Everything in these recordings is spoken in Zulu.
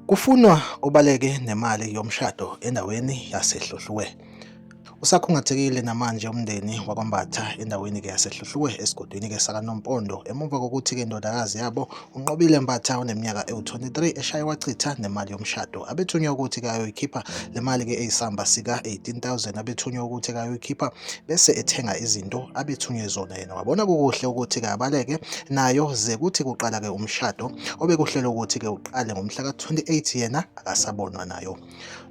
Kufunwa obaleke nemali yomshado endaweni yaseHluhluwe. Usakhungathekile namanje umndeni wakwaMbatha endaweni-ke yaseHluhluwe esigodini-ke sakaNompondo emuva kokuthi-ke indodakazi yabo UNqobile Mbatha oneminyaka ewu-23 eshaye wachitha nemali yomshado. Abethunywa ukuthi kayoyikhipha le mali-ke eyisamba sika-18000 abethunywa ukuthi kayoyikhipha bese ethenga izinto abethunywe zona yena. Wabona kukuhle ukuthi kabaleke nayo ze kuthi kuqala-ke umshado obekuhlelwe ukuthi-ke uqale ngomhla ka-28 yena akasabonwa nayo.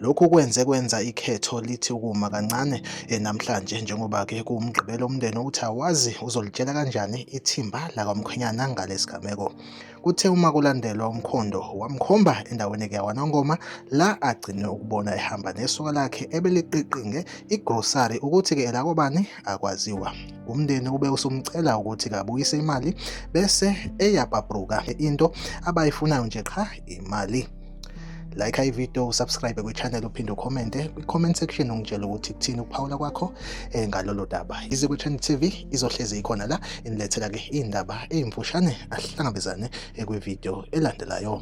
Lokhu kwenze kwenza ikhetho lithi ukuma kancane eh, namhlanje njengoba ke kuwumgqibelo umndeni ukuthi awazi uzolitshela kanjani ithimba lakwamkhwenyana ngalesigameko. Kuthe uma kulandelwa umkhondo wamkhomba endaweni ekawanongoma la agcine ukubona ehamba nesoka lakhe ebeliqiqinge igrosari ukuthi ke elakobani akwaziwa. Umndeni ube usumcela ukuthi kabuyise imali bese eyabhabruka into abayifunayo nje qha imali. like ivideo usubscribe kwichannel uphinde ukhomente kwi-comment section ungitshela ukuthi kuthini ukuphawula kwakho eh, ngalolo daba ize kwichannel tv izohlezi ikhona la inilethela-ke iy'ndaba ey'mfushane ahlangabezane eh, kwivideo elandelayo